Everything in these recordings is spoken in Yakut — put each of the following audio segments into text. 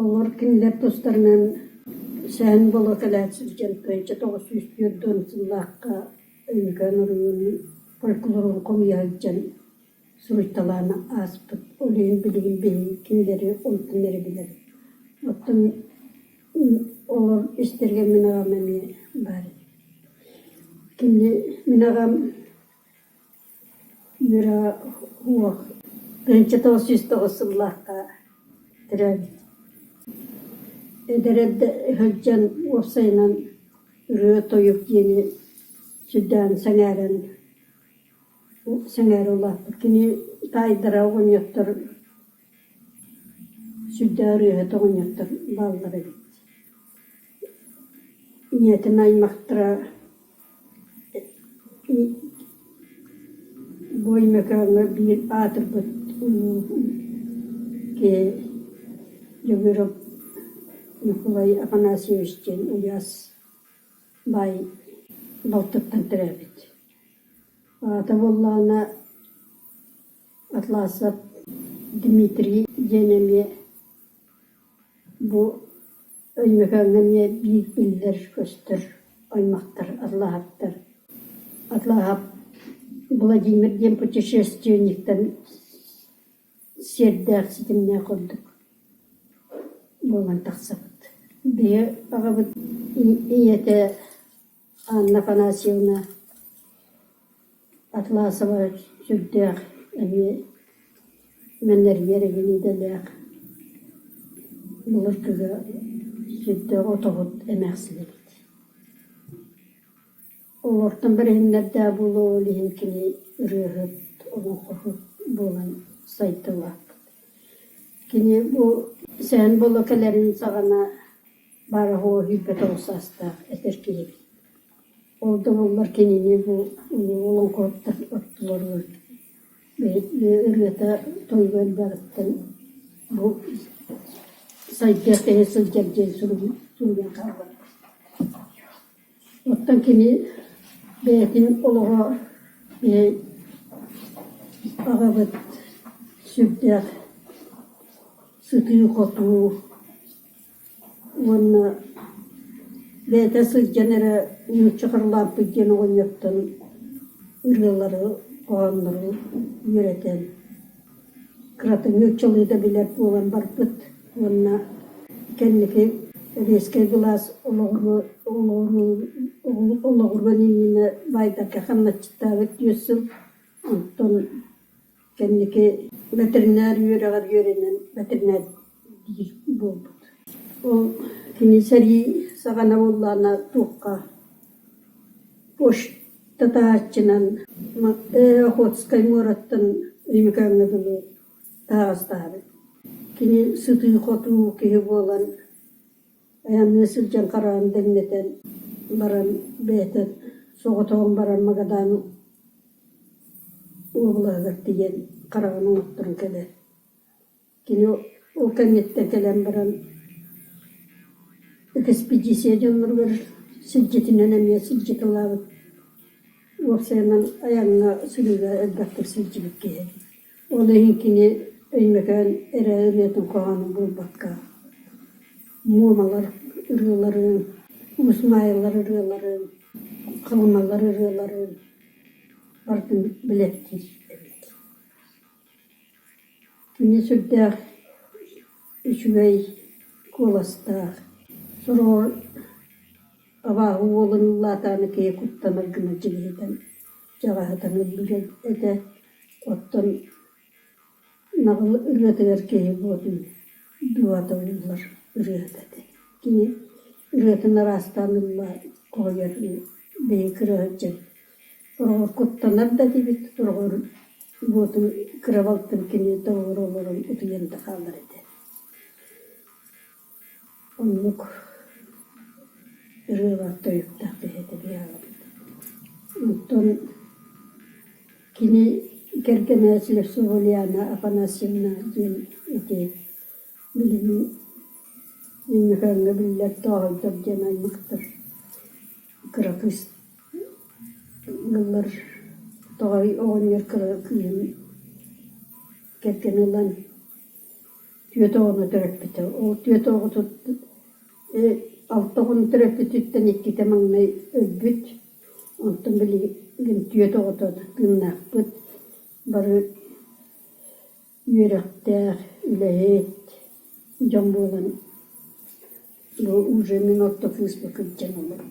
Олор кинилэр тустарынан Сэһэн буола кэлээт сылдьан кыайча тоҕус сүүс түөрт сыллаахха Өймөкөөн оройуонун фольклорун хомуйа сылдьан суруйталаан ааспыт үлэһин билигин билии кинилэри онтун эрэ билэр. Оттон олор истэригэр мин аҕам эмиэ баар. Кини мин аҕам Үөрэ уох ынча тоҕус сүүс тоҕус сыллаахха төрөөбүт эдэр эрдэ сылдьан уопсайынан ырыа-тойук диэни сүрдээн сэҥээрэн сэҥээрэ улааппыт кини таайдара оҕонньоттор Сүрдээх ырыаһыты оҕонньоттор бааллар эбит. ийэтин аймахтара Буой Мөкөөҥҥө биир аатырбыт киһи Дьөгүөрап Ньукулай Афанасьевич диэн Ульяс баай балтыттан төрөөбүт. Аата буоллаҕына Атласов Дмитрий диэн эмиэ бу Өймөкөөҥҥө эмиэ биир биллэр-көстөр аймахтар атлаһыттар. Атлаһап Владимир диэн путешественниктан сиэрдээх, ситимнээх ордук буолан тахсабыт. Биһи аҕабыт ийэтэ Анна Афанасьевна Атласова сүрдээх эмиэ мэнэрийэр эҥин идэлээх, былыргыга сүрдээх отоһут эмээхсинэбит. Олортон бэриһиннэрдээх буолуо ол иһин кини ырыаһыт, олоҥхоһут буолан сайдылаахпыт. Кини бу сэһэн буола кэлэрин саҕана Бары оһуо иһирбэтэ олус саастаах эдэр киһибит. Ол да буоллар кинини бу олоҥхоһуттар оттулар ырыата тойуга элбэҕиттэн бу сайдар тэһэ сылдьар диэн суруйан хаалар. Оттон кини бэйэтин олоҕо аҕабыт сүрдээх сытыы-хотуу Уонна бэйэтэ сылдьан эрэ нуучча харылааппыт диэн оҕонньоттон ырыалары, хоһооннору үөрэтэн, кырата нууччалыы билэр буолан барбыт уонна кэнники сэбиэскэй былаас олоҕуран иннинэ баайдарга хамначчыттаабыт түөрт сыл, онтон Кэнники бэтэринээр үөрэҕэр үөрэнэн бэтэринээр биир буолбут. Ол кини сэрии саҕана буоллаҕына туохха почтатааччынан Охотскай муораттан Ньүмэкээҥҥэ дылы таһаҕастаабыт. Кини сытыы-хотуу киһи буолан Айанныы сылдьан хараҕым дэҥнэтэн баран бэйэтэ соҕотоҕун баран Магадаан уобалаһыгар тиийэн хараҕын уҥуохтуран кэлэр. Кини ол кэнниттэн кэлэн баран экспедиция дьонноругар сирдьитинэн эмиэ сирдьит ылаабыт. Уопсайынан айаҥҥа сырыыга элбэхтик сылдьыбыт киһи этэ. Ол иһин кини Өймөкөөн эрээдэнэтин хоһооно буолбакка Муомалар ырыаларын, Уусмаайылар ырыаларын, Халымалар ырыаларын барытын билэттиир эбит. Кини сүрдээх үчүгэй куоластаах, сороҕор абааһы уолун улаатаары киһи куттанар гына дьигиһитэн чаҕаһы таҥыы билэр этэ. Оттон наҕыл ырыатыгар киһи буотун дуу атыллар ырыаһыта этэ. Кини ырыатын араастаан ылла хоһуйар биһиги кырыһаччы ороҕор куттанар да этибит, ороҕор буотун кырабалтан кини тоҕуорура олорон утуйан да хаалар этэ Оннук ырыалар тойуктаах киһитэ быһаҕабыт. Оттон кини кэргэнээччилэр Субуляна Афанасьевна диэн ити билим Ньөкөөҥҥө биллэр тооһойдор диэн аймахтар кыракый ыаллар тоҕой оҕонньор кыыһын кэргэнэ ылан Түөрт оҕону төрөппүтэ, ол түөрт оҕотут э алта оҕону төрөппүтүттэн иккитэ маҥнай өлбүт, онтон билигин түөрт оҕото тыыннаахпыт, бары үөрэхтээх, үлэһит дьон буолан Бу уже мин орто кыыспа кырдьан олор.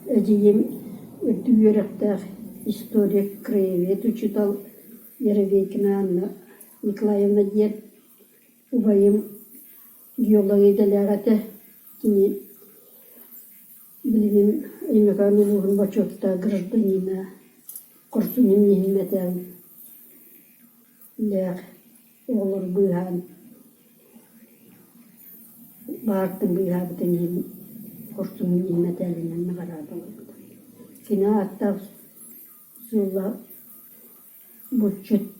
Эдьиийим үрдүк үөрэхтээх историк, краевед учуутал Яровейкина Анна Николаевна диэн. Убайым геолог идэлээх этэ. Кини Билигин Иннокентий Иванович бочуоттаах гражданина, хорсуннук ньиһиммэтээн, лээх оҕолору быыһаан, баартын быыһаабытын иһин хорсуннук ньиһиммэтээлинэн наҕараадалабыт. Кини ааттаах сыаллаах булчут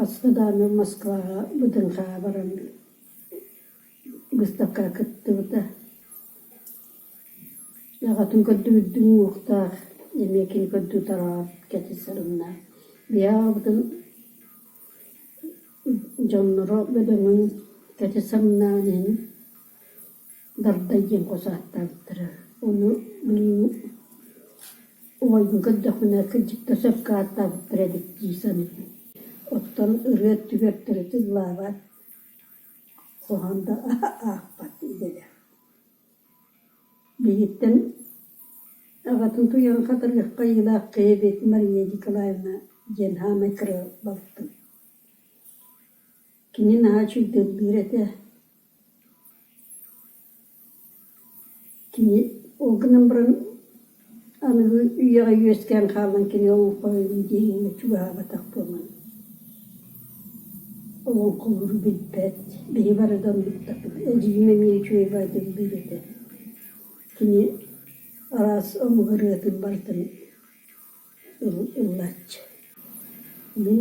Аста даанам Москваҕа БДНХ-ҕа баран быыстапкаҕа кыттыбыта. Аҕатын көрдүбүт уҥуохтаах, эмиэ кини көрдүү тараҕар кэтис сарыннаах. Биһиэхэ аҕабытын дьонноро бөдөҥүн кэтис самнаан иһин Барыта ийэм хос ааттаабыттара. Ону мин убайбын көрдөхпүнэ кырдьыкта сөпкө ааттаабыттар эбит дии саныыбын. Оттон ырыа өттүгэр тырытык лаабат, хоһоон да аахпат идэлээх. Билигиттэн аҕатын туйаҕын хатарыахха айыылаах кэйэ эбиэтин Мария Николаевна диэн саамай кыра балыкпын. Кини наһаа чуйдаллыыр этэ кини ол гынан баран аныгы үйэҕэ үөскээн хаалан кини олоҥхолорун диэҥҥэ чугаһаабатах буолан олоҥхолору билбэт биһи бары да оннуктабыт эдьиийим эмиэ үчүгэй баайдыллыыр этэ кини араас омук ырыатын барытын ыл ыллааччы мин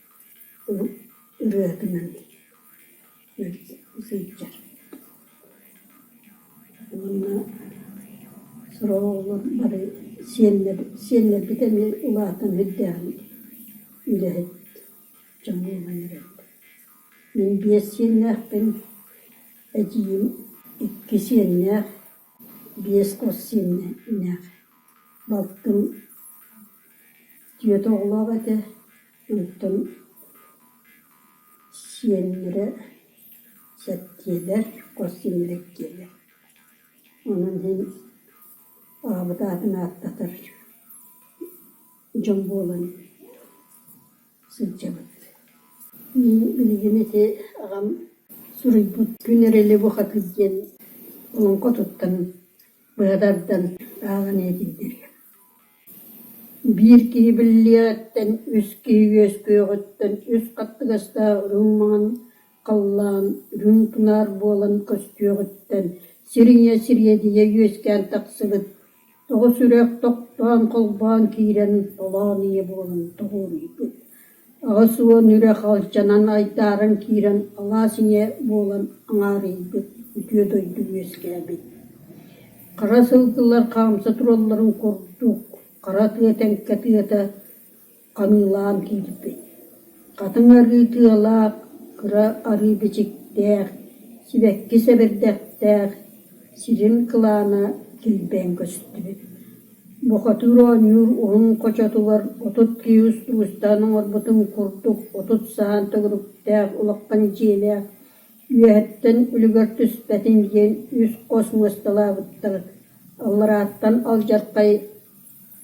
ырыатынан сылдьар уонна сороҕолор бары сиэннэрбит эмиэ улаатан ирдээҕин үлэһит дьон буолан эрэллэр мин биэс сиэннээхпин эдьиийим икки сиэннээх биэс хос сиэннээх балтым Тиэт оҕолоох этэ, өлүктэн сиэннэрэ сэттиэлэр, хос сиэннэрэ иккиэлэр. Онон иһин аҕабыт аатын ааттатар дьон буолан сылдьабыт. Мин билигин ити аҕам суруйбут «Күн эрэли бухатый» диэн олоҥхо туттан быһа тардан ааҕан иһитиннэриэм. Биир киһи биллиэҕиттэн үс киһи үөскүөҕүттэн үс хаттыгастаах үрүҥ маҥан халлаан үрүҥ тунаар буолан көстүөҕүттэн сириҥэ сириэдийэ үөскээн тахсыбыт, тоҕо сүрэх тохтоон холбоон киирэн толоон ийэ буолан тоҕуоруйбут Аҕыс уон үрэх алдьанан айдааран киирэн алаас ийэ буолан аҥаарыйбыт, үтүө дойду үөскээбит. Хара сылгылар хаамса туралларын курдук, хара тыа тэҥкэ тыата ханыылаан киирбит. Хатыҥ арыы тыалаах, кыра арыы бичиктээх, сибэккис эбэрдэхтээх, сирим кылаана килбээн көстүбүт Бохатыыр оонньуур уһун хочотугар отут киһи устаан оҥорбутун курдук отут саһан төгүрүктээх улахан дьиэлээх, үөһэттэн үлүгэр түспэтин диэн үс хос муосталаабыттар, алларааттан алдьархай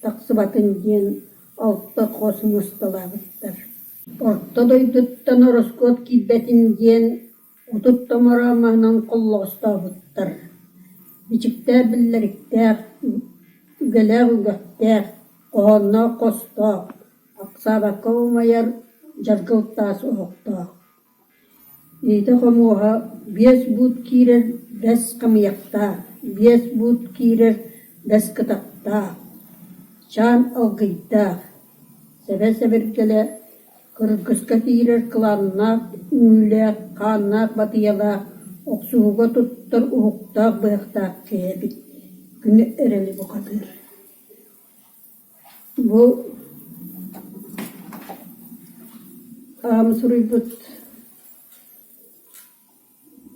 тахсыбатын диэн алта хос муосталаабыттар. Орто дойдуттан ороскуот киирбэтин диэн Отут томоро маһынан холлоҕостообуттар, бичиктээх биллэриктээх, үгэлээх үгэхтээх, хоһоонноох хостоох, ахсаабакка умайар дьаргыл таас оһохтоох, иитэ-хомуоһа биэс буут киирэр бэс хамыйахтаах, биэс буут киирэр бэс кытахтаах, чаан алгыйдаах, сэбэ-сэбиргэлэ Кыргыска киирэр кылааннаах, үүлээх, хааннаах батыйалаах, охсуһууга туттар уһуктаах быһахтаах киһи эбит, күнү эрэли бухатыыр Бу аам суруйбут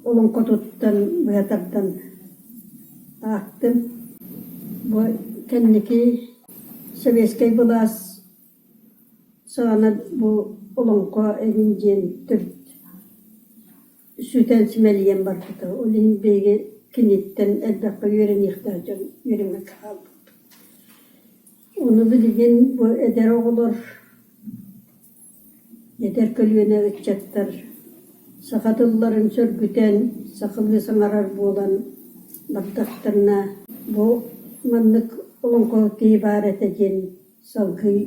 Олоҥхотуттан быһа тардан аахтым. Бу кэнники сэбиэскэй былаас саҕана бу олоҥхо эҥин диэн төрүт сүтэн симэлийэн барбыта. Ол иһин биһиги киниттэн элбэххэ үөрэниэхтээх дьон үөрэммэт хаалбыппыт. Ону билигин бу эдэр оҕолор Эдэр көлүөнэ ыччаттар саха тылларын сөргүтэн, сахалыы саҥарар буолан бардахтарына, бу маннык олоҥхо киһи баар этэ диэн салгыы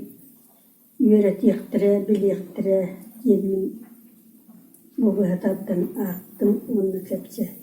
үөрэтиэхтэрэ, билиэхтэрэ диэммин бу быһа тардан аахтым уонна кэпсээтим